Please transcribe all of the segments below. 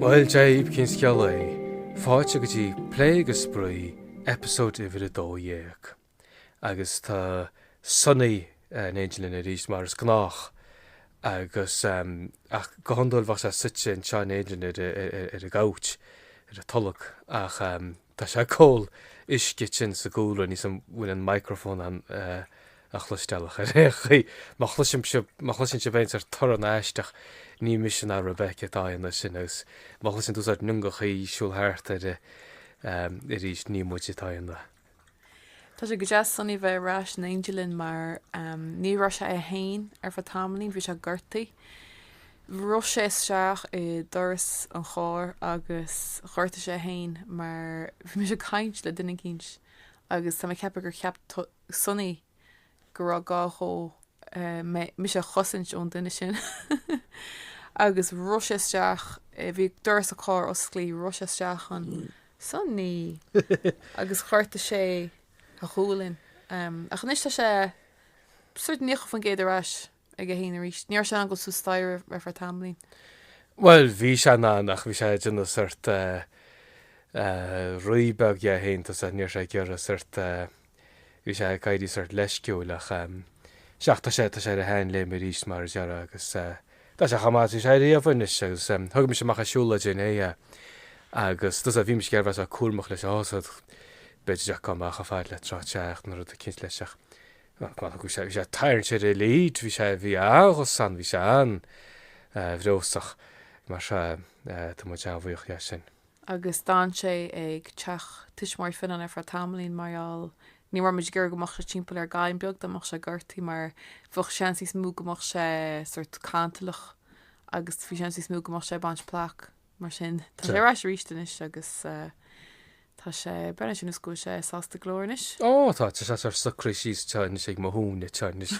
Bhuel, cén scéal é. Fáilte go dtí Plé agus Spraoi, episode uimhir 12. Agus tá Sonny eh, in éindí linn arís mar is gnách. Agus em, ach go hiondúil bheadh sé suite anseo in éindí linn ar, a- ar, ar, ar an gcouch, ar an tolg. Ach em, Tá sé ag ól uisce ansin sa gcúlra, níl a fhios an bhfuil an microphone in ann é a chloisteáil ach ar aon chaoi, má chloisim sibh, má chloiseann sibh aon sort torann aisteach, ní mise ná Rebecca atá á dhéanamh, sin. Agus má chloiseann tú sort n-iongachaí ag siúl thart ar arís, ní muid atá á dhéanamh. Tá sé go deas Sunny bheith ar ais in éindí linn mar ní raibh sé é féin ar feadh tamaillín, bhí sé gortaithe. Rith sé isteach i doras an chairr agus ghortaigh sé é féin mar bhí mise ag caint le duine eicínt agus tá mé ag ceapadh gur cheap Sunny go raibh gá dhó, mé, mise a chosaint ón duine sin. Agus rith sé isteach, bhí doras an chairr osclaí, rith sé isteach ann, Sonny! agus ghortaigh sé a ghualainn. Ach anois tá sé sort naocha faoin gcéad ar ais. aige fhéin arís. Ní raibh sé in ann dul suas staighre ar feadh tamaillín. Bhuel, bhí sé in ann, ach bhí sé ag déanamh sort rí beag dhe fhéin, tá sé, ní raibh sé ag iarraidh sort, bhí sé ag éirí sort leisciúil, ach, seach, tá sé, tá sé ar a shean léim arís mar a déarfá agus tá sé chomh maith is bhí sé riamh anois agus thug mise amach ag siúl le déanaí é agus tusa, bhí mise ag iarraidh bheith sort cúramach leis a fhásad, b'fhéidir ach gan mé ach ar fad le tráth te ach na rudaí cinnte leis ach. Bhuel, cuimhnigh go bhfuil sé, bhí sé tarraingt ar lead, bhí sé, bhí an-ghus ann, bhí sé an-bhreabhsach. Mar sin, tá muid an-bhuíoch as sin. Agus d'fhan sé ag teach tuismitheoirí Finan ar feadh tamaillín mar gheall, ní raibh muid ag iarraidh go mbeadh sé timpeall ar Ghaile beag, dá mbeadh sé gortaithe mar bheadh seans níos mó go mbeadh sé sórt cantalach agus bhí seans níos mó go mbeadh sé ag baint plaic. Mar sin, tá sé ar ais arís anois agus tá sé, breathnaíonn sé ar nós go bhfuil sé sásta go leor anois. Ó, tá, tá sé ag socrú síos anseo anois ag mo chosa anseo anois.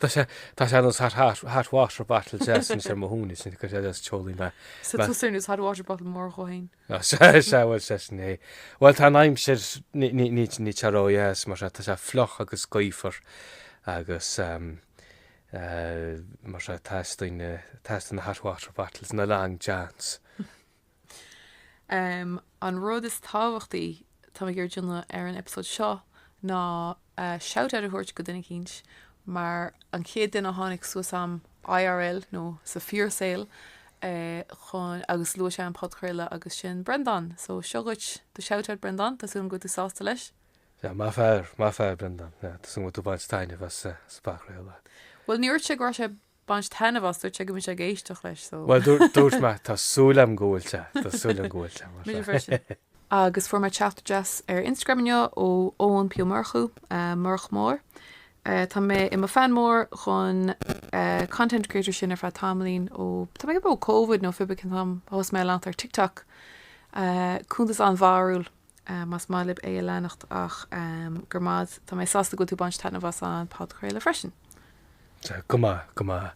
Tá sé, tá sé ar nós hot, hot, hot water bottle deas anois ar mo chosa ansin, coinníonn sé deas teolaí mé. So tá sé ar nós hot water bottle mór dhó fhéin. Ná sea, sea, bhuel sea sin é. Bhuel tá an aimsir, ní, ní, ní, níl sí ródheas mar tá sé fliuch agus gaofar agus mar sin teastaíonn teastaíonn na hot water bottles is na long johns. An rud is tábhachtaí tá mé ag iarraidh déanamh ar an eipeasóid seo ná shout out a thabhairt go duine eicínt mar an chéad duine a tháinig suas agam IRL nó sa fíorshaol chugam agus luaigh sé an podchraoladh agus sin Brendan so seo dhuit do shout out Brendan tá súil agam go bhfuil tú sásta leis. Yeah, maith fear, maith fear Breandán. Yeah, tá súil agam go bhfuil tú baint taitneamh as an bpodchraoladh. Bhuel, níor dhúirt sé go raibh sé baint taitneamh as, dúirt sé go mbeidh sé ag éisteacht leis, so. Bhuel, dúirt mé, tá súil agam go bhfuil sé, tá súil agam go bhfuil sé, mar sin. Agus fuair mé teachtaireacht deas ar Instagram inniu ó Eoin P. Ó Murchú, Murch Mór. Tá mé i mo fan mór dhon content creator sin ar feadh tamaillín ó, tá mé ag rá ó Covid nó pé ar bith cén t-am a thosaigh mé á leanacht ar TikTok. Cuntas an-bharúil. más maith libh é a leanacht ach go raibh maith agat, tá mé sásta go bhfuil tú baint taitneamh as an podchraoladh freisin. Sea, go maith, go maith.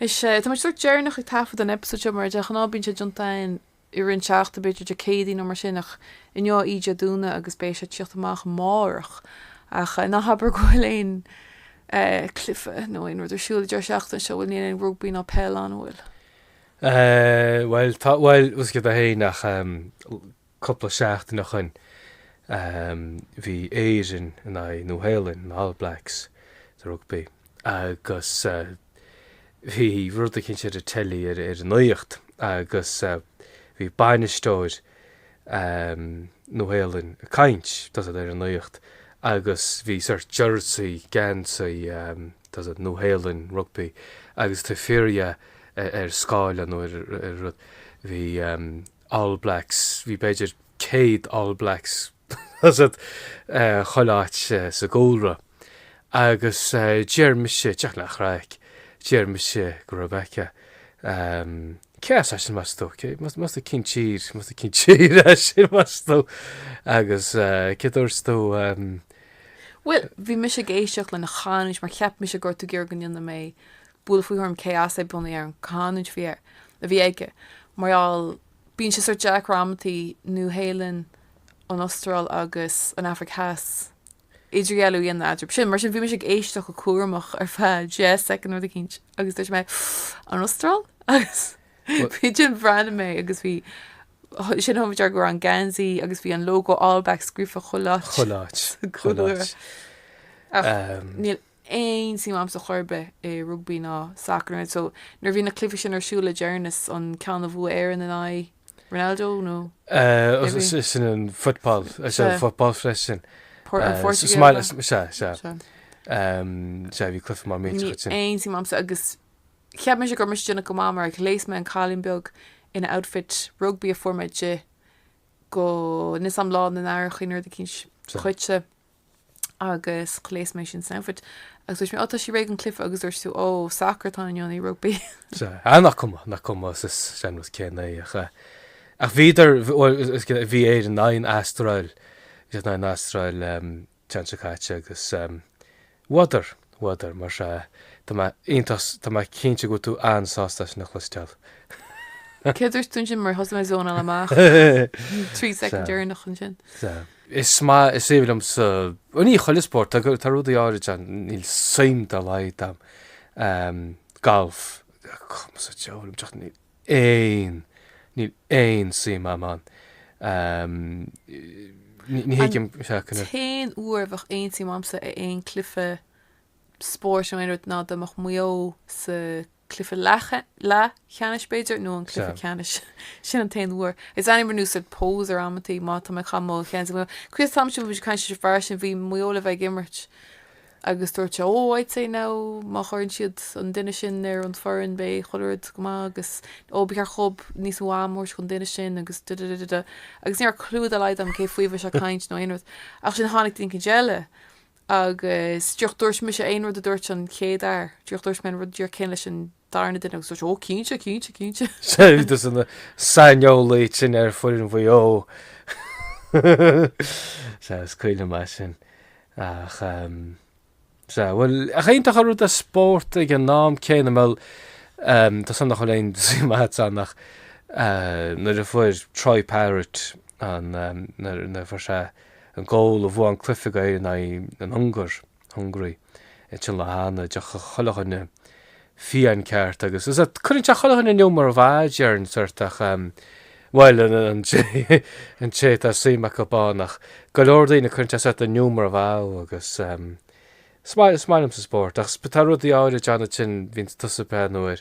Is ea, tá muid sórt deireanach ag taifead an episode seo, mar de ghnáth bíonn sé déanta againn i rith an tseachtain, b'fhéidir Dé Céadaoin nó mar sin, ach inniu í Dé Domhnaigh agus beidh sé tíocht amach amárach. Ach ná habair go bhfuil aon eh cluife nó aon rud ar siúl an deireadh seachtaine seo, bhuel níl aon rugbaí ná peil ann, an bhfuil? Eh, bhuel, tá, bhuel, bhfuil a fhios agat a Shéain ach, em, cúpla seachtain ó shoin, em, bhí Éire in aghaidh Nua-Shéalainn, na All Blacks sa rugbaí agus, eh, bhí rud eicínt ar an teilí ar, ar an nuacht agus, eh, bhí bainisteoir, Nua-Shéalainn ag caint ar an nuacht agus bhí sort jersey, geansaí, Nua-Shéalainn, rugbaí agus taobh thiar dhe ar scáileán nó ar rud, bhí All Blacks, bhí b'fhéidir 100 All Blacks, Tá siad chuile áit sa gcúlra agus deir mise, just le craic, deir mise go Rebecca. Cé as eisean, meas tú? Meas tú cén tír, meas tú cén tír eisean, meas tú? Agus céard a dúirt tú? Bhuel, bhí mise ag éisteacht lena chanúint mar cheap mise go raibh tú ag iarraidh go ndéanfadh mé buille faoi thuairim cé as é bunaidh ar an chanúint a bhí aige mar gheall Bíonn sé sórt deacair amantaí, Nua Shéalainn, an Astráil agus an Afraic Theas, idirdhealú a dhéanamh eatarthu sin. Mar sin, bhí mise ag éisteacht go cúramach ar feadh deich soicind nó rud eicínt agus dúirt mé, An Astráil? Agus bhí, ansin bhreathnaigh mé agus bhí, ansin thug mé faoi deara go raibh an geansaí agus bhí an lógó All Blacks scríofa chuile áit. Chuile áit. Chuile áit. Ach, um, níl, aon suim a'msa chor ar bith i rugbaí ná sacar nó so nuair a bhí na cluichí sin ar siúl le deireanas, an ceann a bhuaigh Éireann in aghaidh Ronaldo nó cé bhí? Sea, sin an football, sea, an football freisin. Por, an Phortaingéil a. Sea, sea. Sea, bhí cluiche maith millteach ansin. Níl aon suim a'msa agus cheap mise go raibh mise ag déanamh go maith mar ghléas mé an cailín beag ina outfit rugbaí a fuair mé duitse, níl fhios a'm Lá na nAithreachaí nó rud eicínt dhuitse. agus ghléas mé í sin san outfit agus dúirt mé ó tá sí réidh don cluife agus dúirt tú ó sacar atá ann nó an rugbaí. Sea, ah nach cuma, nach cuma sa sean-nós céanna é ach eh. Ach bhíodar, bhuel, bhí Éire in aghaidh an Astráil, bhí siad in aghaidh an Astráil an tseachtain seo caite agus eh, Bhuadar! Bhuadar, mar sea. Tá mé iontach, tá mé cinnte go bhfuil tú an-sásta é sin a chloisteáil. Céard a dúirt tú ansin, mar thosaigh mé ag zónáil amach trí soicind dheireanach ansin. Sea. Is maith is aoibhinn liomsa, bhuel, ní chuile spórt, tá rudaí áirid ann, níl suim dá laghad agam, galf, cuma sa diabhal liom, aon, níl aon suim a'm ann. Ní thuigim é. An t-aon uair a bheadh aon suim a'msa i aon cluife spóirt nó aon rud ná dá mbeadh Maigh Eo sa cluife leathcheannais b'fhéidir nó an cluife ceannais. Sin an t-aon uair. Is airím ar nós sórt poser amantaí má tá mé cha mo chean Críost tá siú bhí caint leis an fear sin bhí Maigh Eo le bheith ag imirt. Agus dúirt sé, 'Oh, I'd say now, má chuireann siad an duine sin ar an foireann, beidh chuile rud go maith, agus oh, ba cheart dóibh níos mó am a thabhairt don duine sin, agus da-da-da-da-da. Agus ní raibh clue dá laghad agam cé faoi a bhí sé ag caint nó aon rud. Ach ansin tháinig duine eicínt eile, agus, 'Díreach dúirt mise aon rud a dúirt an chéad fhear, díreach dúirt mé an rud díreach céanna leis an Dara duine agus dúirt sé, 'Ó, cinnte, cinnte, cinnte. Seilbhítear na saineolaí eicínt ar foireann Mhaigh Eo. Sea, is cuimhin liom é sin. Ach, sea, bhuel, nach iontach an rud é spórt ag an am céanna, bhuel, tá a fhios a'm nach bhfuil aon suim agat ann ach nuair a fuair Troy Parrott an, nuair a fuair sé an gól a bhuaigh an cluiche go Éirinn in aghaidh an Ungáir, Hungary, Inseann le hAnna de chuile dhuine fiáin ceart agus is ea, cuireann sé chuile dhuine in iúmar maith ar an sórt ach em. bhuel an té, an té atá suim acu ann ach go leor daoine cuireann sé sórt in iúmar maith agus em. is maith, is maith liomsa spórt ach tá rudaí áirid ann ansin bíonn tusa breá nuair,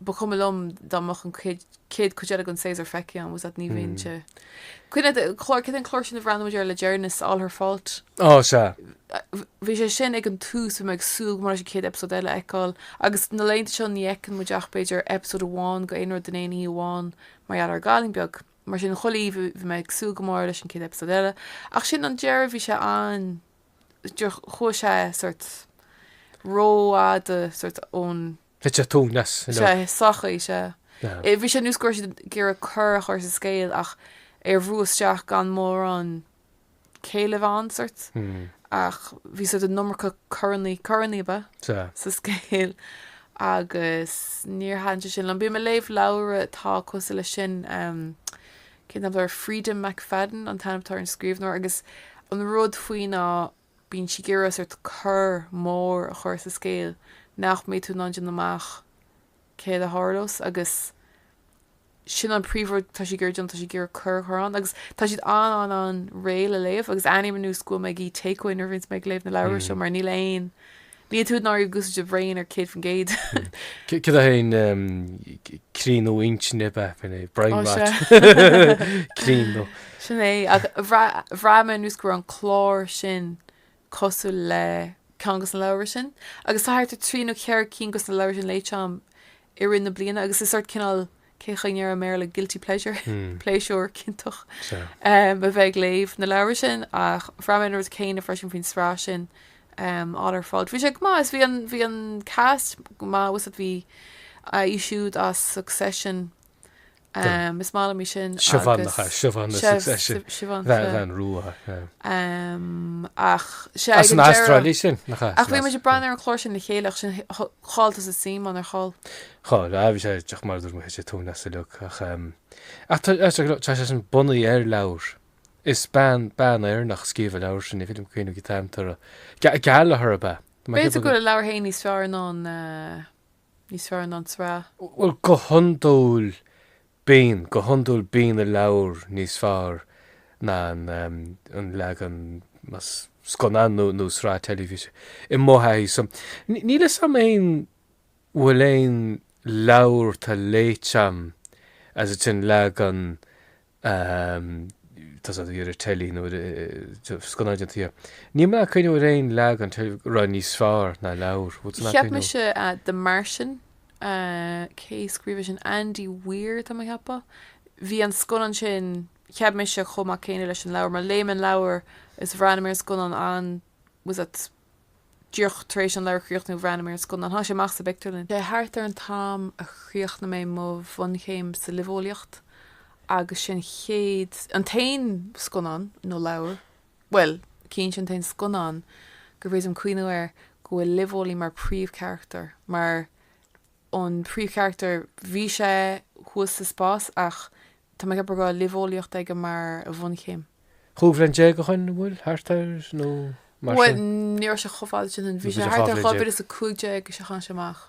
ba chuma liom dá mbeadh an chéad chuid eile den séasúr feicthe agam agus ní bhíonn sé. Cuimhnigh ar an chlár, céard é an clár sin a bhreathnaigh muid air le deireanas, All Her Fault? Ó, sea. Bhí sé sin ag an tús, bhí mé ag súil go mór leis an chéad eipeasóid eile a fheiceáil agus na laethanta seo ní fheiceann muid ach, b'fhéidir, eipeasóid amháin go aon rud in aon oíche amháin mar gheall ar an gcailín beag. Mar sin, chuile oíche bhí mé ag súil go mór leis an chéad eipeasóid eile ach ansin ag an deireadh, bhí sé an, chuaigh sé sórt rófhada sórt ón. Bhí sé tú neas in Sé, sochaí, sé. Ea. Bhí sé ar nós go raibh siad ag iarraidh cor a chur sa scéal ach á bhrú isteach gan mórán céille ann sórt. Ach bhí sórt an iomarca corannaí, corannaí, ab ea? Sea. sa scéal agus níor thaitin sé sin liom. Bím ag léamh leabhra atá cosúil leis sin, cén t-ainm atá air, Freida McFadden an t-ainm atá ar an scríbhneoir agus an rud faoi ná, Bíonn sí ag iarraidh sórt cor mór a chur sa scéal nach mbeidh tú in ann déanamh amach céard a tharlós agus sin an príomhrud atá sí ag iarraidh déanamh, tá sí ag iarraidh cor a chur ann agus tá siad an-an-an réidh le léamh agus airím ar nós go bhfuil mé ag ithe takeaway nuair a bhíonns mé ag léamh na leabhra seo mar níl aon Níl tú ag náiriú guth do bhrain ar 100%. Cad é an críonadh intinne ar bith faoin é? Brain rot? Críonadh. Sin é. Ach bhraith mé ar nós go raibh an clár sin cosúil le ceann de na leabhra sin. Agus tá thart ar trí nó ceithre cinn de na leabhra sin léite agam i rith na bliana agus is sórt cineál Cén chaoi a ndéarfá i mBéarla guilty pleasure, pléisiúr ciontach, a bheith ag léamh na leabhra sin, ach bhraith mé an rud céanna freisin faoin sraith sin, All Her Fault. Bhí sé go maith, is bhí an, bhí an cast go maith, 'fhios a'd bhí, í siúd as Succession, is maith liom í sin agus, Siobhan na, Siobhan na Succession, Siobhan, bean, bean rua, ach, sé, as an Astráil í sin, nach ea? Ach bhí muid ag breathnú ar an chlár sin le chéile ach sin, chaill tusa suim ann nár chaill? Chaill. Bhí sé ag mar a dúirt mé bhí sé ag tarraingt as uilig ach ach tá tá sé tá sé sin bunaithe ar leabhar is bean bean Éireannach a scríobh an leabhar sin ní féidir liom cuimhniú cén t-ainm atá uirthi Gallagher ab ea? B'fhéidir go bhfuil an leabhar féin níos fearr ná an níos fearr ná an tsraith. Bhuel go hiondúil Bíonn, Go hiondúil bíonn an leabhar níos fearr ná an leagan scannán nó sraith teilifíse, i mo thaithí-sa. Níl 'fhios a'm an bhfuil aon leabhar atá léite a'm is an leagan atá ar an teilí nó ar scannán déanta dhe. Níl mé in ann cuimhneamh ar aon leagan a raibh níos fearr ná an leabhar. Cheap mise The Martian. cé scríobh é sin? Andy Weir, tá mé a cheapadh. Bhí an scannán sin, cheap mise, chomh maith céanna leis an leabhar, mar léigh mé an leabhar is bhreathnaigh mé ar an scannán an, 'fhios a'd, díreach tar éis an leabhar a chríochnú bhreathnaigh mé ar an scannán, tháinig sé amach sa bpictiúrlann. Sé thart ar an t-am a chríochnaigh mé mo bhunchéim sa luibheolaíocht agus sé an chéad, an t-aon scannán nó leabhar Bhuel, cinnte, an t-aon scannán gur féidir liom cuimhniú air go bhfuil luibheolaí mar príomhcharachtar, mar an príomhcharachtar, bhí sé thuas sa spás ach tá mé ag ceapadh go raibh luibheolaíocht aige mar a bhunchéim. Chúig bhliana déag ó shin, an bhfuil? Thart ar nó mar sin. Bhuel, ní raibh sé chomh fada sin, bhí sé thart ar dhá mhíle is a cúig déag is ea a tháinig sé amach.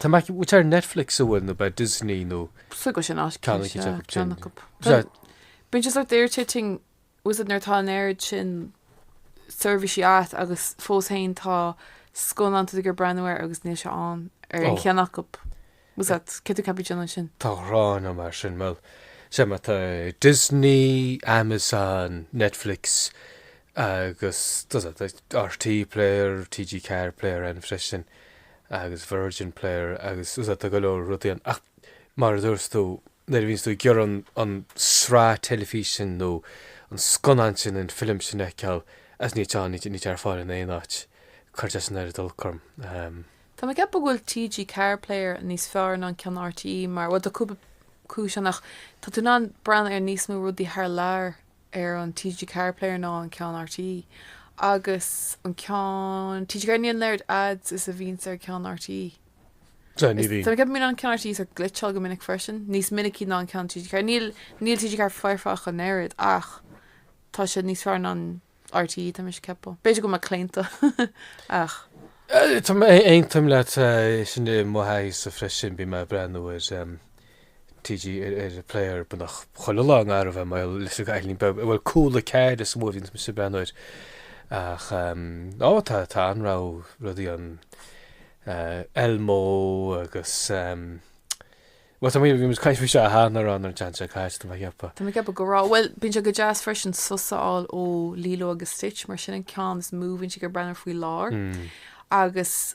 Tá mé ag iarraidh Netflix a bhfuil nó b'fhéidir Disney nó. Fliuch go sin áit Ceann acu déarfadh sin. ceann acu. Tá Bíonn siad sort irritating you know nuair atá an oiread sin seirbhísí a'd agus fós féin tá scannán atá tú ag iarraidh breathnú air agus níl sé ann ar aon cheann acu. You know cé tú ceapadh déanann sin? Tá ghránna mar sin. Bhuel, sea, má tá Disney, Amazon, Netflix, Agus tá an RTÉ player, TG4 player ann freisin agus Virgin player agus tá go leor rudaí ann. Ach mar a dúirt tú, nuair a bhíonns tú ag iarraidh an sraith teilifís sin nó an scannán sin, an film sin a fheiceáil agus níl sé, níl sé ar fáil in aon áit, cuireann sé an-olc orm. Tá mé ag ceapadh go bhfuil TG4 player níos fearr ná an ceann RTÉ mar, bhuel, tá cúpla cúis ann ach tá tú in ann breathnú ar níos mó rudaí thar lear. ar an TG4 Player ná an ceann RTÉ agus an ceann TG4 níl an oiread ads is a bhíonns ar ceann RTÉ. Ní bhíonn. Ceapaim go mbíonn an ceann RTÉ ag glitcheáil go minic freisin, níos minicí ná an ceann TG4. Níl níl TG4 foirfe ach an oiread ach tá sé níos fearr ná an RTÉ tá mise ag ceapadh. B'fhéidir go bhfuil mé claonta ach. Tá mé aontaim leat sin i mo thaithí-sa freisin bíonn mé ag breathnú ar. TG4 player beagnach chuile lá anois mar gheall ar Eilín Beag, bhuel, Cúla4 is mó a bhíonns mise ag breathnú air. Ach á, tá, tá an-réimse rudaí ann, Elmo agus, bhuel, tá muid, bhí muid ag caint faoi seo, aha, cheana ar an tseans seo, cá háit do mo shiopa? Tá mé ag ceapadh go raibh, bhuel, bíonn sé go deas freisin sos a fháil ó Lilo agus Stitch, mar sin an ceann is mó a bhíonn siad ag breathnú air faoi láthair, agus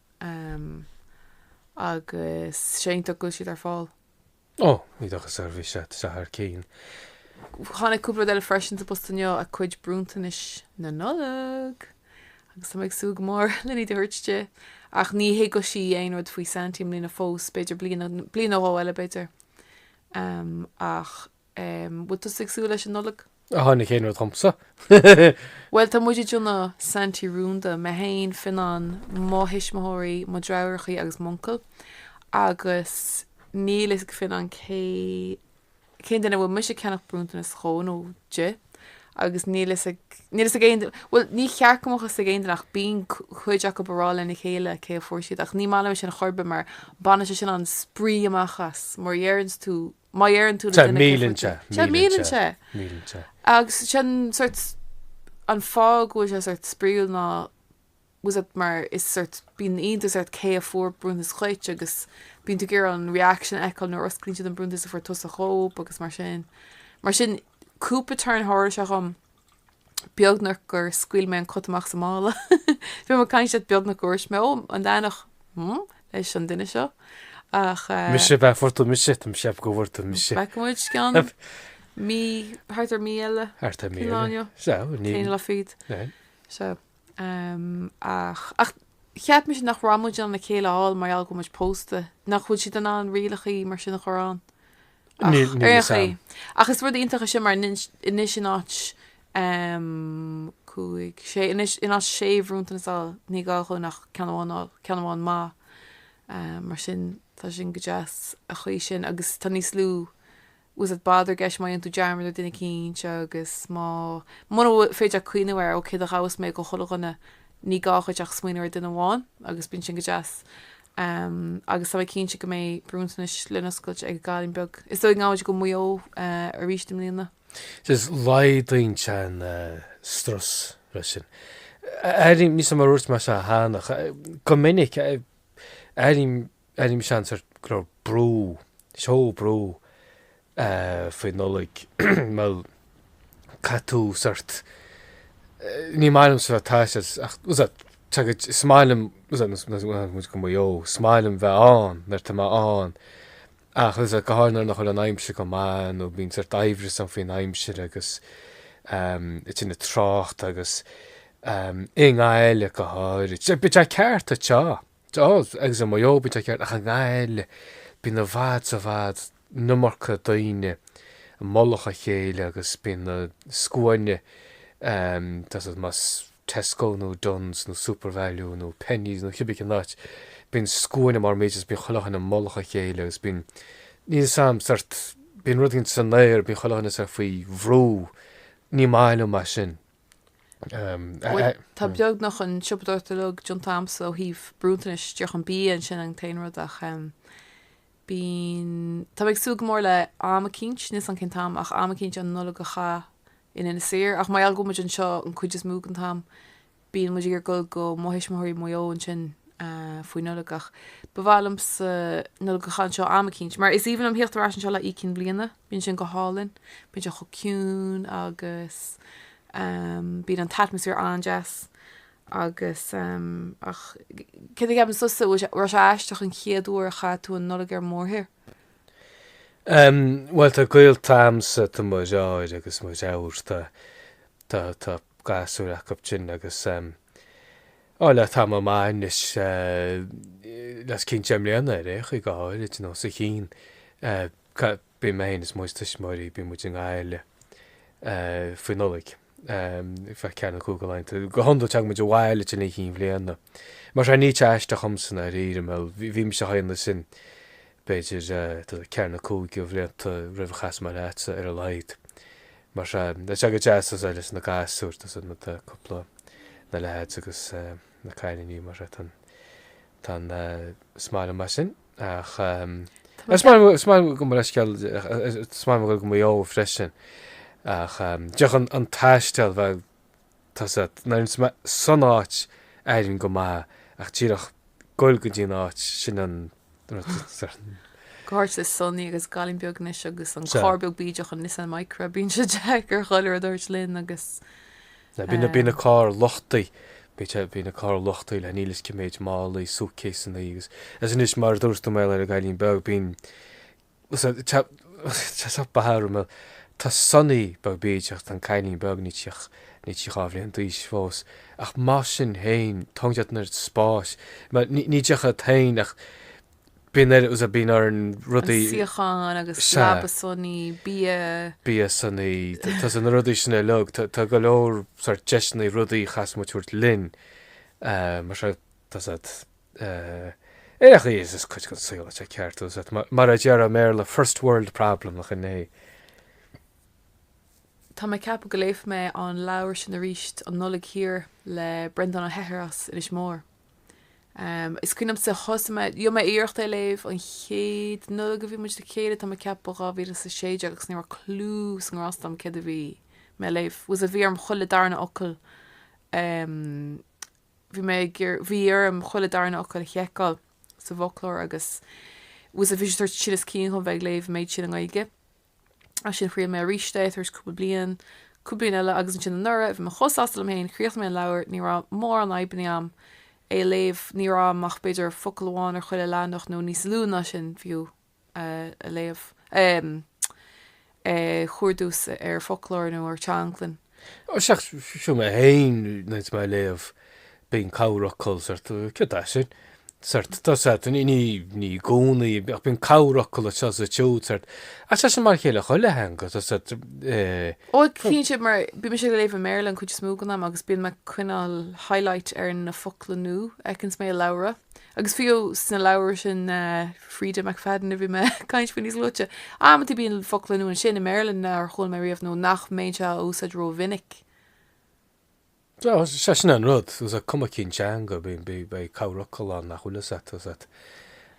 Ehm. Agus is iontach go bhfuil siad ar fáil. Ó, ní dochar ar bith iad, sea, ar aon chaoi. Tháinig cúpla rud eile freisin sa bpost inniu, a cuid bronntanais na Nollag! Agus tá mé ag súil go mór len iad a thabhairt di. Ach ní thuigfidh sí aon rud faoi Santy i mbliana fós, b'fhéidir bliain, bliain nó dhó eile b'fhéidir. Ehm. Ach. An bhfuil tusa ag súil leis an Nollaig? Tá na céanna domsa. Bhuel, tá muid ag déanamh Saintí Rúnda, mé fhéin, Fionán, mo thuismitheoirí, mo dhreatháireachaí agus m'uncail, agus níl fhios ag Fionán cé cén duine a bhfuil mise ag ceannach bronntanas dhó nó di, agus níl fhios ag, níl fhios ag aon duine, bhuel, ní cheart go mbeadh fhios ag aon duine ach bíonn cuid acub a' rá lena chéile cé a fuair siad, ach ní maith liom é sin chor ar bith mar baineann sé sin an spraoi amach as, má dheireanns tú má dheireann tú le duine cé fuair tú. Sea, milleann sé. Milleann sé. Agus sin sort an fáth go bhfuil sé sort spraíúil nó you know mar is sort bíonn iontas ort cé a fuair bronntanas dhuit agus bíonn tú ag iarraidh an reaction a fheiceáil nuair a osclaíonn siad an bronntanas a fuair tusa dhóibh agus mar sin. Mar sin, cúpla tuairim thar a's seo dhom. beagnach gur scaoil mé an cat amach as an mála. Bhí mé ag caint leat beagnach go ndúirt mé, ó, an leathanach, hmm, leis an duine seo. Ach eh. Mise, bheadh fuartú mise, tá mise ag fuartú mise. Bheadh muid go ceann mí, thart ar mí eile. Thart ar mí eile. Cén lá inniu? Sea, inniu. Cén lá fríd? Sea. Sea. Ehm, ach, ach cheap mise nach raibh muid in ann a chéile a fháil mar gheall go bhfuil muid pósta. Nach bhfuil siad in ann rialacha mar sin a chur ann? Níl fhios a'm. Ach is rud iontach é sin mar anois in áit cúig, sé, anois in áit sé bhronntanas a fháil, ní gá dhúinn ach ceann amháin a fháil, ceann amháin maith. Mar sin tá sin go deas an chaoi sin agus tá níos lú was it bother I guess má dhéanann tú dearmad ar duine eicínt agus má, mura féidir leat cuimhneamh ar, ó céard a gheobhas mé do chuile dhuine, ní gá dhuit ach smaoineamh ar duine amháin agus bíonn sin go deas agus tá mé cinnte go mbeidh bronntanais le n-oscailt ag an gcailín beag is dóigh gabhfaidh muid go Maigh Eo arís i mbliana. Is laghdaíonn an strus leis sin. Airím, níl fhios a'm, mar a dúirt mise cheana, go minic, airím, airím seans go raibh brú, seó brú faoi Nollaig. Bhuel, caith tú sort, ní maith liom sort an taisteal, is ea, tá's agat, is maith liom, is ea, is maith liom dul go Maigh Eo, is maith liom bheith ann nuair atá mé ann, ach is ea, go háirithe nuair nach bhfuil an aimsir go maith nó bíonn sort aimhreas ann faoin aimsir agus i dtaobh an trácht agus i nGaillimh go háirithe. Is ea, bíonn tú ceart atá. D'fhág agus i Maigh Eo, bíonn tú ceart, ach i nGaillimh bíonn i bhfad is i bhfad an iomarca daoine i mullach a chéile agus bíonn na scuainí, doesn't it, más Tesco nó Dunnes nó Supervalu nó Penneys nó cibé cén áit, bíonn scuaine mar muid agus bíonn chuile dhuine i mullach a chéile agus bíonn, níl fhios a'm, sort, bíonn rud eicínt san aer, bíonn chuile dhuine sort faoi bhrú, ní maith liomsa sin. Tá beagnach an siopadóireacht uilig déanta a'msa ó thaobh bronntanais de, ach an bia, sin an t-aon rud ach bíonn, tá mé ag súil go mór le am eicínt, níl fhios a'm cén t-am ach am eicínt an Nollaig a chaitheamh in Inis Oírr ach mar gheall go bhfuil muid anseo an cuid is mó den t-am bíonn muid ag iarraidh dul go mo thuismitheoirí i Maigh Eo ansin faoin Nollaig ach ba mhaith liomsa Nollaig a chaitheamh anseo am eicínt mar is aoibhinn liom theacht ar ais anseo le haghaidh Oíche Chinn Bhliana. Bíonn sin go hálainn, bíonn sé chomh ciúin agus bíonn an t-atmaisféar an-deas agus ach céard a cheapann tusa, an raibh sé aisteach an chéad uair a chaith tú an Nollaig ar mórthír? Bhuel tá gaolta agamsa, tá mo dheirfiúr agus mo dheartháir, tá tá gasúir acu sin agus á le tamall maith anois le os cionn deich mbliana ar aon chaoi go háirid nó sa Chinn. ca, bíonn mé féin is mo thuismitheoirí, bíonn muid i nGaillimh faoi Nollaig, ar feadh ceathair nó cúig de laethanta, go hiondúil téann muid abhaile don Oíche Chinn Bhliana. Mar sin, ní teacht isteach dhomsa ná riar an mil, bhí mise i mo chónaí ansin, b'fhéidir, tá a fhios agat, ceathair nó cúig de bhlianta roimh a chas mé leatsa, ar a laghad. Mar sin, tá sé go deas, tá a fhios agat, leis na gasúir, tá a fhios agat, na, tá cúpla, na leaids agus na cailíní, mar sin, tá an, tá an, is maith liom é sin. Ach is maith liom go mbeidh sceal, is maith liom goil go Maigh Eo freisin. Ach díreach an taisteal, bhuel tá a fhios agat, nuair a bhíonn mé san áit éiríonn go maith, ach díreach goil go dtí an áit, sin an. Go háirithe le Sonny agus an cailín beag anois agus an carr beag bídeach, an Nissan Micra, bíonn sé deacair, chuile rud a thabhairt linn agus Now bíonn an, bíonn an carr luchtaithe, bíonn sé, bíonn an carr luchtaithe le níl a fhios cé mhéad málaí, suitcaseannaí agus, agus anois mar a dúirt tú mar gheall ar an gcailín beag, bíonn, sea, tá, tá, tá beatha ar an, mar gheall tá Sonny beag bídeach ach tá an cailín beag níl sí ach, níl sí dhá bhliain d'aois fós ach mar sin féin, tógann siad an oiread spáis mar ní, ní díreach iad féin ach, Bíonn ar, is ea, bíonn orainn rudaí. An suíochán agus leaba Sonny, bia. Bia Sonny, tá a fhios agat na rudaí sin uilig, tá go leor sórt deiseanna rudaí a chaithfeas muid a thabhairt linn, mar sin, tá a fhios agat, ach arís is cuid den saol atá ceart, tá a fhios agat, mar a déarfá i mBéarla, first world problem nach in é. Tá mé ag ceapadh go léifidh mé an leabhar sin arís, An Nollaig Thiar le Breandán Ó hEithir as Inis Mór. Is cuimhin liom nuair a thosaigh mé, dhéan mé iarracht é a léamh an chéad Nollaig a bhí muid le chéile, tá mé ag ceapadh ba 2016 agus ní raibh clue na ngrást agam céard a bhí mé a léamh, tá a fhios agat, bhí orm chuile darna fhocal, bhí mé ag iarr, bhí orm chuile darna fhocal a sheiceáil sa bhfoclóir agus tá a fhios agat, bhí sé sórt tinneas cinn dhom bheith ag léamh an méid sin i nGaeilge. Ansin thriail mé arís é, tar éis cúpla bliain, cúpla bliain eile, agus ansin anuraidh, bhí mé chomh sásta liom féin, chríochnaigh mé an leabhar, ní raibh mórán fadhbanna agam é a léamh, ní raibh orm ach b'fhéidir focal amháin ar chuile leathanach, nó níos lú ná sin fiú, a léamh, a chuardú ar foclóir nó ar teanglann. Sea, ach sure mé féin, nuair atá mé ag léamh, bíonn corrfhocal, sórt, céard é sin? Sórt, tá a fhios agat, ní, ní, ní i gcónaí, ach bíonn corrfhocal anseo is ansiúd, sórt, ach tá sé mar a chéile i chuile theanga, tá a fhios agat, eh, Ó, ag, tá, cinnte, mar bíonn mise ag léamh i mBéarla an chuid is mó den am agus bíonn mé ag coinneáil highlight ar na focla nua a fheiceanns mé i leabhra. Agus fiú sna leabhair sin Freida McFadden a bhí mé ag caint faoi níos luaite, amanntaí bíonn focla nua ansin i mBéarla nár chuala mé riamh nó nach mbeinnse ag úsáid ró-mhinic. Sea, sea, sin é an rud. Sea, cuma cén teanga, beidh corrfhocal ann nach bhfuil fhios a't, fhios a't.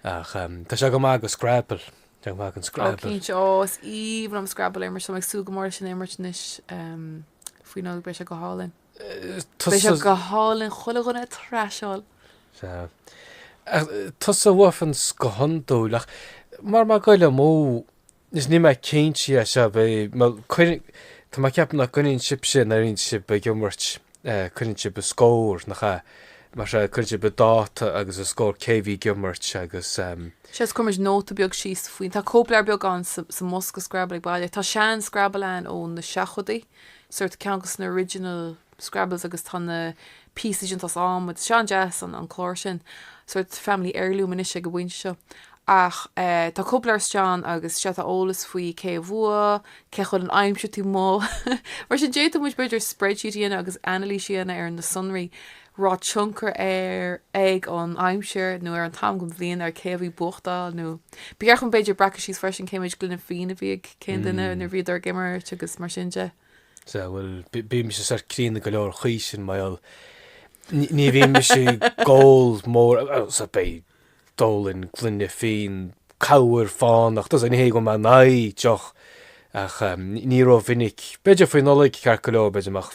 Ach tá sé go maith go Scrabble, tá sé go maith go Scrabble. Ó, cinnte. Ó, is aoibhinn liom Scrabble a imirt, tá mé ag súil go mór leis sin a imirt anois faoin Nollaig, beidh sé go hálainn. Tusa. Beidh sé go hálainn chuile dhuine a thraiseáil. Sea. Ach tusa a bhuachanns go hiondúil, ach mara bhfuil mé ag goil amú, is níl mé cinnte dhe, sea, beidh, bhuel, cuireann, tá mé ag ceapadh nach gcoinníonn sibhse nuair a bhíonn sibh ag imirt, coinníonn sibh an scór, nach ea? Más ea, cuireann sibh an dáta agus an scór cé a bhí ag imirt agus ehm. Sea, is cuireann muid nóta beag síos faoi, tá cóipleabhar beag ann sa mbosca Scrabble ag baile, tá sean-Scrabble ann ó na seachtóidí, sórt ceann dos na original Scrabbles agus tá na pieces déanta as adhmad, tá sé an-deas an clár sin, sórt family heirloom anois ag an bpointe seo. Ach eh tá cóipleabhar istigh ann agus sea tá eolas faoi cé a bhuaigh, cé a chaill, an aimsir tú mo! Mar sin d'fhéadfadh muid b'fhéidir spreadsheet a dhéanamh agus anailís a dhéanamh ar na sonraí raibh tionchar air ag an aimsir nó ar an t-am den bhliain ar cé a bhí ag buachtáil, nó b'fhearr dhúinn, b'fhéidir, breacadh síos freisin cé méid gloine fíona a bhí ag cén duine nuair a bhíodar ag imirt agus mar sin de. Sea, bhuel, bímse sórt críonna go leor an chaoi sin, mar gheall, ní bhímse ag ól mórán, sea, b'fhéidir d'ólfainn gloine fíon, corruair fánach, fhios a't, ní hé go bhfuil mé in aghaidh deoch ach ní rómhinic, b'fhéidir faoi Nollaig, ceart go leor, b'fhéidir, ach.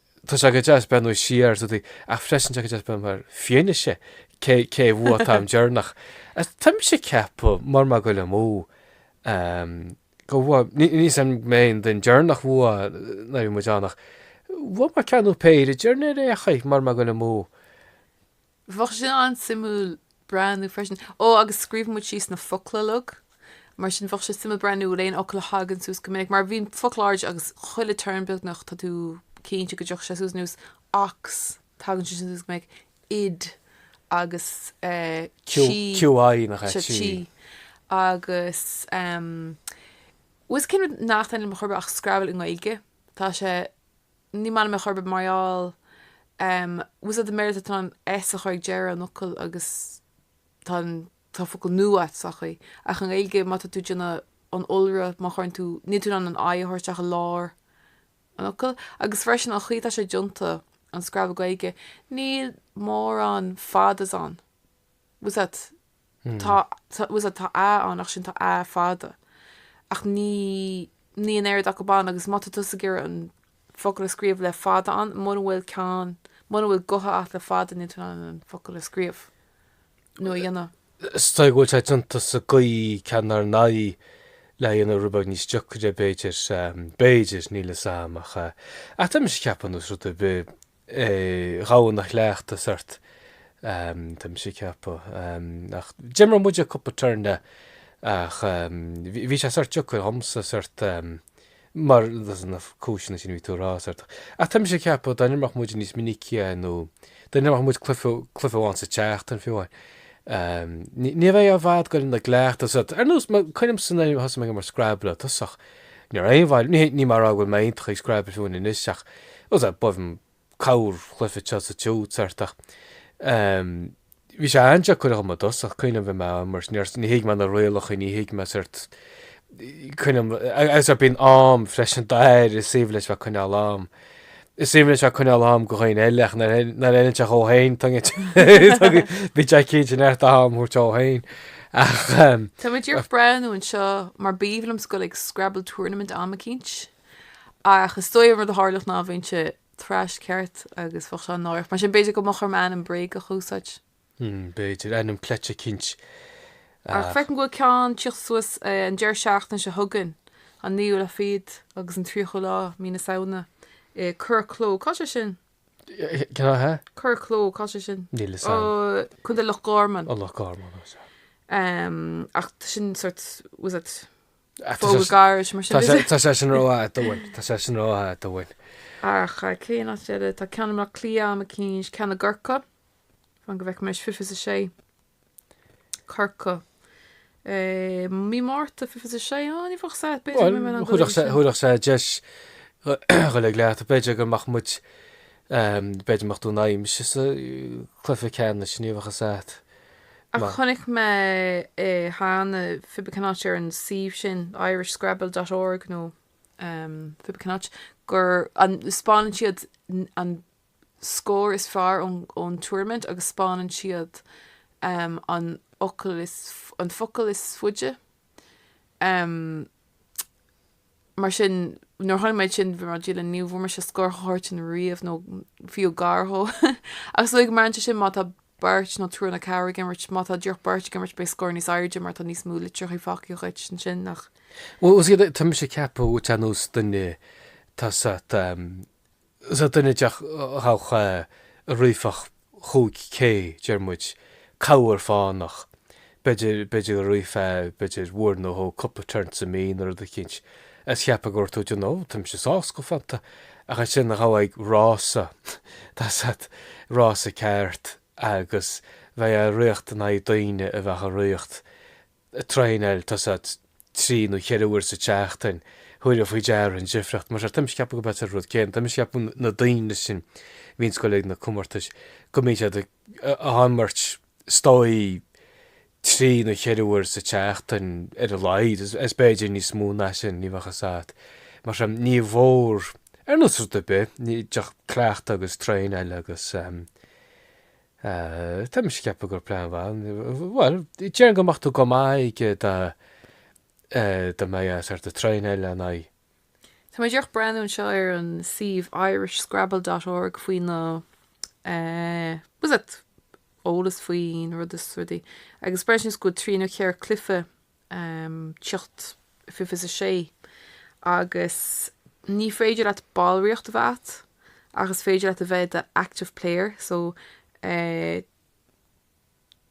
Tá sé go deas beith nó siar is rud ach freisin tá go deas beith mar fianaise cé a bhfuath atá im deireanach. Tá mise ag ceapadh, mar má ghoill amú, go bhfuath, níl san go mbeidh aon duine deireanach bhfuath ná beidh muid ann ach bhfuath mar ceann nó péire deireanair é, a Chaith, mar má ghoill amú. Bheadh sin an-suimiúil breathnú freisin. Ó, agus scríobhann muid síos na focla uilig. Mar sin, bheadh sé suimiúil breathnú ar aon fhocal a thagann suas go minic. Mar bhíonn focla áirid agus chuile turn beagnach tá tú cinnte go dtiocfaidh sé suas. Ar nós ox, tagann sé sin suas go minic. Id agus Qi. Q, QI nach ea? Sea, Qi. Qi. Agus em. Bhfuil fhios a't cén rud nach dtaitníonn liom chor ar bith ach Scrabble i nGaeilge. Tá sé ní maith liom é chor ar bith mar gheall em fhios a't i mBéarla tá tú in ann S a chur ag deireadh an fhocail agus tá an tá focal nua a't sa chaoi ach i nGaeilge má tá tú ag déanamh an iolra má chuireann tú níl tú in ann an I a thabhairt isteach i lár an fhocail agus freisin an chaoi atá sé déanta an scrabble Gaeilge níl mórán fadas ann fhios a't Tá, tá, was it, tá a ann ach sin tá a fada ach ní, níl an oiread acu ann agus má tá tusa ag iarraidh an focal a scríobh le fada ann, muna bhfuil ceann, muna bhfuil guta a'd le fada níl tú in ann an focal a scríobh nó a dhéanamh. Is dóigh go bhfuil sé déanta sa gcaoi sin inár n-aghaidh lena dhéanamh rud beag níos deacra b'fhéidir, b'fhéidir, níl 'fhios a'm ach, ach tá mise ag ceapadh nós rud ar bith, ghabhfá ina chleachtadh, sort, tá mise ag ceapadh, ach d'imir muide cúpla turn de, ach bhí sé sort deacair dhomsa, sort, mar, as na cúiseanna sin a bhí tú a rá, sort, ach tá mise ag ceapadh, dá n-imreodh muid níos minicí é, nó dá n-imreodh muid cluiche, cluiche amháin sa tseachtain, fiú amháin, ní bheifeá i bhfad ag goil ina chleachtadh, sort, ar nós, cuimhním, sort, thosaigh mé ag imirt Scrabble i dtosach, Ní raibh aon, bhuel, ní mar go bhfuil mé iontach ag Scrabble fiú anois ach rud ar b'aoibhinn cabhair chluife te sa tiú sort, ach. Ehm, bhí sé an-deacair agam i dtosach, cuimhním bhí mé á imirt, níor, ní thuig mé na rialachaí, ní thuig mé sort, cuimhním, agus ar bíonn am freisin Dara, is aoibhinn leis bheith coinneáil am. Is aoibhinn leis seo coinneáil am do dhaoine eile ach nuair a fheileann sé dhó fhéin, tuigeann tú. Bíonn sé cinnte neart am a thabhairt dó fhéin. Tá mé díreach breathnú anseo mar ba aoibhinn liomsa goil ag Scrabble Tournament am eicínt ach is dóigh an rud a tharlódh ná a bheinnse thrashed ceart agus bheadh sé an-náireach. Mar sin b'fhéidir go mbeadh orm ainm bréagach a úsáid. Hmm, b'fhéidir. Ainm cleite eicínt. Ach feicim go bhfuil ceann ag tíocht suas an deireadh seachtaine seo chugainn, an naoú lá fichead agus an tríochú lá mí na Samhna, i Currach Cló. Cá sé sin? Cá hea? Currach Cló, cá sé sin? Níl 'fhios a'm. Ó, Contae Loch Garman. Ó, Loch Garman, ó sea. Ehm, ach tá sin sort, was it Ah, tá fógra sé- gairid mar sin? tá is sé- it? tá sé sin rófhada uainn. Tá sé sin rófhada uainn. Ach, eh, cén áit eile? Tá ceann i mBleá Cliath am eicínt, ceann i gCorcaigh. fan go bhfeicfidh mé anois, fiche fiche is a sé, Corcaigh i mí Márta fiche fiche is a sé á ní bheadh 'fhios a'd b'fhéidir go mbeidh mé in ann dul air sin. Chuirfeadh sé deis dhúinn goil ag cleachtadh b'fhéidir go mbeadh muid b'fhéidir mbeadh tú in aghaidh mise sa gcluiche ceannais ní bheadh 'fhios a'd Ach chonaic mé cheana pé bí cén áit ar an suíomh sin Irish Scrabble dot org nó pé bí cén áit go 'speánann siad an scór is fearr ón Tournament agus 'speánann siad an focal is faide. Mar sin, nuair a chonaic mé é sin, bhí mé ag dúil le ní bhfuair mise scór chomh hard sin riamh, nó fiú gar dhó. Ach is dóigh go mbraitheann sé sin má tá beirt nó triúr nó ceathrar ag imirt. Má tá díreach beirt ag imirt, beidh scór níos airde mar tá níos mó litreacha fágtha dhuit ansin, nach. Bhuel, tá mise ag ceapadh, ar nós duine, tá Is é duine de dhaltaí a rithfeadh cúig K, deir muid, corruair fánach, b'fhéidir, b'fhéidir go rithfeá, b'fhéidir uair nó dhó, cúpla turn sa mí nó rud eicínt, is cheapfá go raibh tú den, ó, tá mise sásta go fónta, ach ansin ghabhfá ag rása, tá fhios a't, rása ceart agus bheadh ag ritheacht in aghaidh daoine a bheadh ag ritheacht. traenáil, tá fhios a't, trí nó cheithre uair sa tseachtain, thabharfá faoi deara an difríocht. Más ea, tá mise ag ceapadh gurb é an rud céanna, tá mise ag ceapadh na daoine sin a bhíonns ag goil ag na comórtais, go mbíonn siad ag imirt, is dóigh, trí nó cheithre uair sa tseachtain ar a laghad, is b'fhéidir níos mó ná sin, ní bheadh fhios a't. Mar sin, ní mhór, ar nós rud ar bith, cleachtadh agus traenáil agus. Ah, tá mise ag ceapadh gur plean maith, bhuel, déarfainn go mbeadh tú go maith aige dá, eh, dá mbeifeá sort ag traenáil lena aghaidh. Tá mé díreach ag breathnú anseo ar an suíomh Irish Scrabble dot org faoi na, eh, tá fhios a't, eolas faoin rud is rudaí agus breathnaíonn sé go bhfuil trí nó ceithre cluiche tiocht fives a sé agus ní féidir leat ballraíocht a bheith agat ach is féidir leat a bheith i do active player so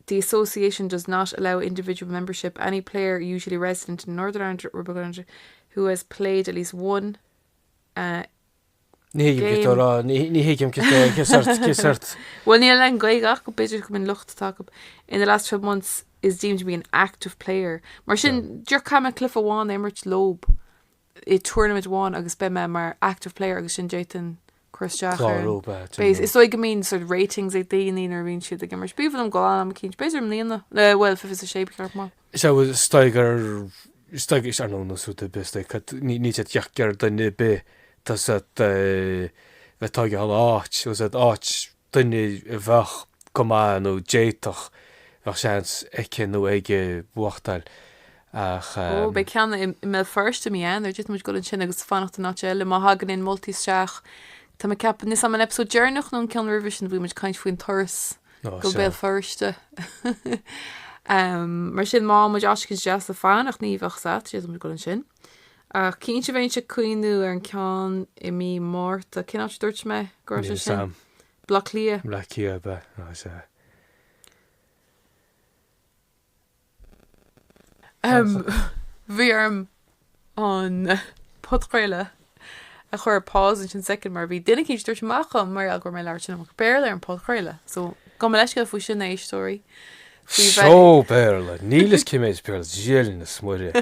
the association does not allow individual membership any player usually resident in Northern Ireland who has played at least one Ní thuigim cé tú rá, ní thuigim cé tú cé sort, cé sort. Bhuel, níl le n-gaoth ach go b'fhéidir go mbeidh an lucht atá acu in the last twelve months is deemed to be an active player. Mar sin, díreach caithfidh mé cluiche amháin a imirt leob i tournament amháin agus beidh mé mar active player agus ansin d'fhéadfainn cur isteach ar an base. Is dóigh go mbíonn sort ratings ag daoine nuair a bhíonn siad ag imirt. Ba mhaith liom dul ann am eicínt. B'fhéidir i mbliana, bhuel, fiche a sé, b'cheart maith. Is é bhfuil is dóigh gur, is dóigh, is ar nós rud ar bith is dóigh go, ní, níl siad ag iarraidh duine ar bith, tá fhios a't, a bheith ag tógáil áit, tá fhios a't, áit duine a bheadh go maith nó d'fhéadfadh, bheadh seans aici nó aige buachtáil ach. Ó, beidh ceann i, i mBéal Feirste i mí Eanáir, d'fhéadfadh muid dul ansin agus fanacht in áit eile má thagann aon mholtaí isteach. Tá mé ag ceapadh, níl fhios a'm an episode deireanach nó an ceann roimhe sin a bhí muid ag caint faoin turas, go Béal Feirste. Mar sin, má fhaigheann muid áit eicínt deas le fanacht ní bheadh fhios a't, d'fhéadfadh muid a dhul ansin. Ach cinnte bheinnse ag cuimhniú ar an ceann i mí Márta. Cén áit a dúirt mé go raibh sé sin? Sam. Bleá Cliath. Bleá Cliath ab ea, ná is ea. Bhí orm an podchraoladh a chur ar pause ansin soicind mar bhí duine éicint ag tabhairt amach dhom mar gheall go raibh mé ag labhairt an iomarca Béarla ar an podchraoladh. So, gabh mo leithscéal faoi sin, a éisteoirí. Seo Béarla, níl fhios cé mhéad Béarla, Dia linn is Muire.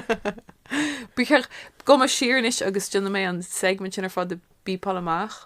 Gabhfaidh mé siar anois agus déanfaidh mé an segment sin ar fad a bhípeáil amach.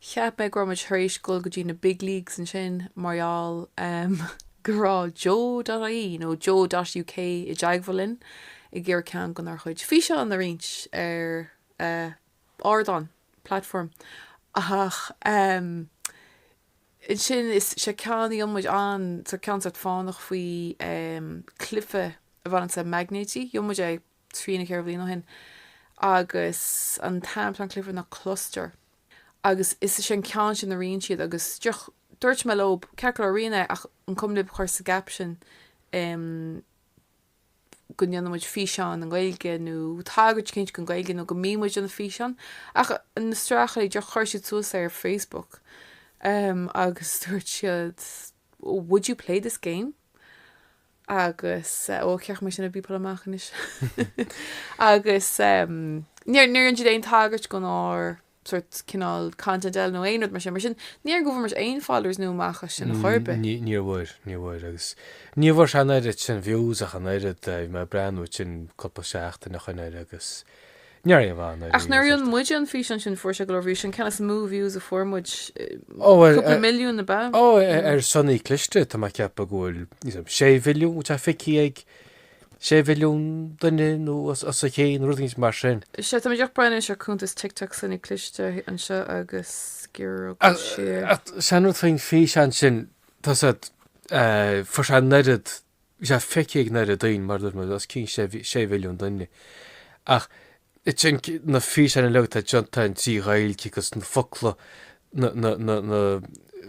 Cheap mé go raibh muid tar éis ghoil go dtí na big leagues ansin mar gheall go raibh Joe.ie nó Joe.uk i dteagmháil linn ag iarraidh ceann go n-ár gcuid físeán a roinnt ar ardán, platform, ach ansin is é an ceann a dhein muid, ceann sórt fánach faoi cluife a bhaineanns le maighnéidí, dhein muid é. trí nó ceithre bhliain ó shin agus an t-ainm a bhí ar an gcluife ná Kluster agus is sé an ceann sin a roinn siad agus dúirt mé leob ceart go leor roinn é ach an cuma libh a chur sa gcaption em go ndéanann muid físeán i nGaeilge nó tagairt eicínt go Gaeilge nó go mbíonn muid ag déanamh físeáin ach na strácairí díreach chuir siad suas é ar Facebook em agus dúirt siad would you play this game agus ó cheacht mé sin ag bpíopail amach anois agus níor dhein siad aon tagairt go n-ár sórt cineál content eile nó aon rud mar sin mar sin ní dóigh go bhfuair muid aon followers nua amach as sin ar chor ar bith. Níor bhfuair, níor bhfuair agus níor bhfuair sé an oiread sin views ach an oiread, bhí mé ag breathnú ansin cúpla seachtain ó shoin air agus Ach nuair a dhein muide an físeán sin fuair sé go leor views, an ceann is mó views a fuair muid, cúpla milliún ab ea? Ó ar Sonaí Cliste tá mé ag ceapadh go bhfuil níos mó, sé mhilliún atá feicthe ag sé mhilliún duine nó os a chionn, rud éigin mar sin. Sea, tá muid ag breathnú anois ar cuntas TikTok Sonaí Cliste anseo agus sciorróidh muid siar. Ach sé an rud faoin físeán sin, tá a fhios agat, fuair sé an oiread Bhí sé feicthe ag an oiread daoine, mar a dúirt mé, os cionn sé mhilliún duine. Ach ansin na físeáin uilig atá déanta againn trí Ghaeilge agus na focla, na, na, na, na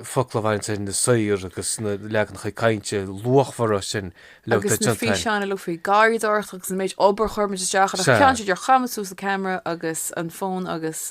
focla a bhaineanns ar na saoir agus na leaganacha cainte luachmhara sin uilig atá Agus na déanta againn. físeáin uilig faoi garraíodóireacht agus an méid obair a chuir muid isteach ann. Sea. Ach ceann seo ar chaith muid suas an ceamara agus an fón agus.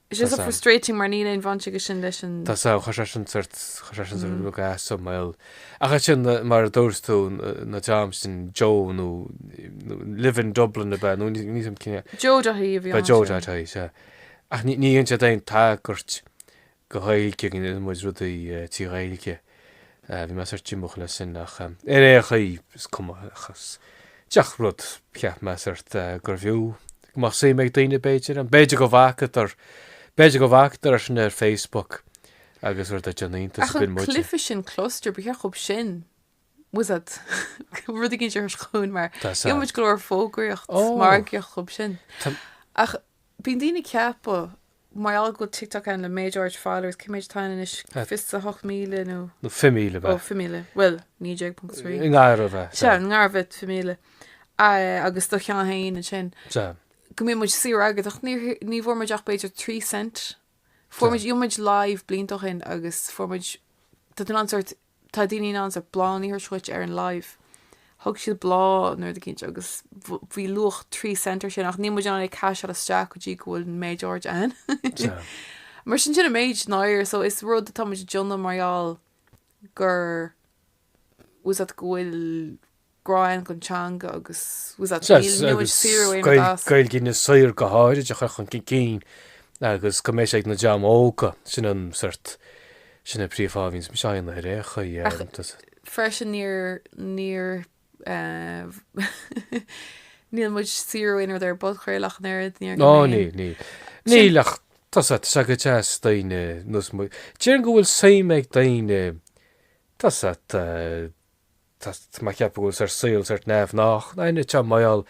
It's just so frustrating mar níl aon bhaint aige sin leis an. Tá a fhios agam, chuir sé sin sórt, chuir sé sin sórt drochbhlas i mo bhéal. Ach é sin, mar a dúirt tú, an dream sin, Joe nó Lovin Dublin ab ea, nó níl a fhios agam cé acu. Joe.ie a bhí ann. Joe.ie, sea. Ach níor dhein siad aon tagairt go Ghaeilge, go ndéanann muid rudaí trí Ghaeilge. Bhí mé sórt diomúch le sin, ach ar aon chaoi, is cuma, ach is díreach rud, cheap mé sórt gurbh fhiú, go mbeadh suim ag daoine, b'fhéidir ann, b'fhéidir go bhfacadar, b'fhéidir go bhfacadar é sin ar Facebook agus rud a deir an iontas a binn muid. Ach an cluife sin Kluster, ba cheart dhób sin, tá a fhios agat, rud éigin a sheoladh chugainn mar, dhein muid go leor fógraíocht, margaíocht dhób sin. Ach bíonn daoine ag ceapadh, mar dá mbeadh TikTok a'inn le méid áirid followers, cé méid atá ann anois, at. fiche a hocht míle nó. nó fiche míle bheith. ó fiche míle, bhuel, naoi déag ponc trí. i ngar a bheith. Sea, i ngar a bheith fiche míle. agus do cheann féin ansin. Sea. go mbeidh muid saibhir agad ach ní bhfuair muid ach b'fhéidir trí cent. Chuaigh muid live blianta ó shin agus fuair muid Tá an sórt Tá daoine in ann sórt bláthanna a scaoileadh ar an live. Thug siad bláth nó rud eicínt agus bhí luach trí cent ar sin ach níl muid in ann é a chaiseáil isteach go dtí go bhfuil an méid áirid ann. Mar sin sin an méid an-airgid so is rud atá muid a dhéanamh mar gheall gur just go bhfuil grá a'inn don teanga agus Gaeilge Inis Oírr go háirid a chur chun cinn agus go mbeidh sé ag an dream óg, sin an sórt, sin an príomhfháth a mbíonns muid aon uair é, chuir Ach freisin níor, níor níl muid ag saothrú aon rud ar an bpodchraoladh an oiread, níor Ná níl, níl, níl. Níl ach tá sé, tá sé go deas daoine ar nós mo, déarfainn go bhfuil suim ag daoine tá's a'd, Tá mé ag ceapadh go bhfuil sé ár saol sórt neamhghnách éinne atá ag maireachtáil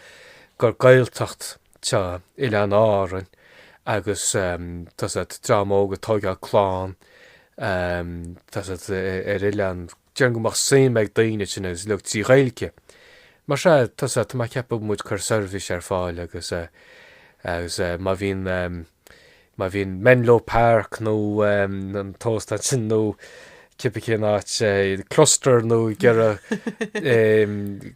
ar an nGaeltacht ar Oileáin Árainn agus tá's a'd dream óg ag tóigeáil clann tá's a'd ar oileán déarfainn go mbeadh suim ag daoine ann sin agus uilig trí Ghaeilge mar sea tá's a'd tá mé ag ceapadh go bhfuil muid ag cur seirbhís ar fáil agus agus má bhíonn Má bhíonn Menlo Park nó an t-óstán sin nó cibé cén áit, Cluster nó ag iarraidh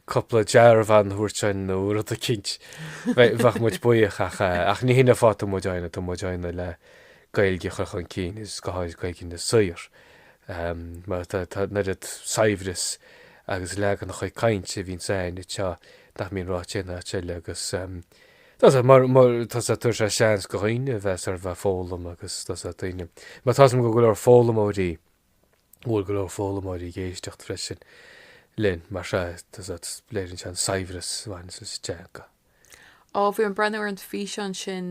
cúpla dearbhán a thabhairt ann nó rud eicínt, bheadh muid buíoch ach, ach ní hin an fáth, tá muid á dhéanamh, tá muid á dhéanamh le Gaeilge a chur chun cinn agus go háirid Gaeilge Inis Oírr. Mar tá, tá an oiread saibhreas agus leaganacha cainte a bhíonns a'inn anseo nach mbíonn ráite aon áit eile agus, Tá sé, mar tá sé, tugann sé seans go dhaoine a bheith sort of a' foghlaim agus tá sé, daoine, mar tá go go leor foghlaimeoirí, bhuel go leor foghlaimeoirí ag éisteacht freisin linn, mar sea, tá sé, léiríonn sé an saibhreas a bhaineann leis an teanga. Ó, bhí mé ag breathnú ar an físeán sin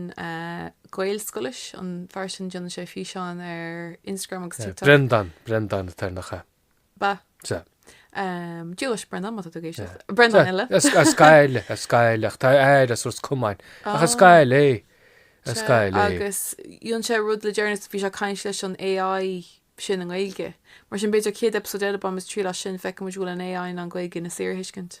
Gaelscoilis, an fear sin déanann sé físeáin ar Instagram agus TikTok. Brendan, Brendan a' Tairneach, a. Ba. Sea. Dia leis Brendan, má tá tú ag éisteacht. Brendan eile. A scail, a scail, ach tá a fhear as Ros Comáin. Ach a scail é, a scail é. Agus dhein sé rud le deireanas, bhí sé ag caint leis an AI sin i nGaeilge. Mar sin b'fhéidir 100 eipeasóid eile, bainfidh muid triail as sin, feicfidh muid an bhfuil an AI in ann Gaeilge Inis Oírr a thuiscint.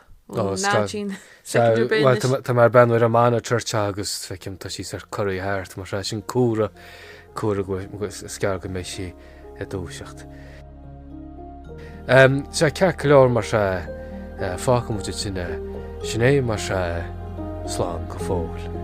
Ó, ná tchín. Soicind ar bith anois. Bhuel, tá mé ag breathnú ar an monitor agus, feicim, tá sí ag corraí thart, mar sin, sin comhartha, comhartha go bhfuil, is gearr go mbeidh sí ag dúiseacht. Ehm, sea, ceart go leor, mar sea, eh, fágfaidh muid aige sin é, mar sea, eh, slán go fóill.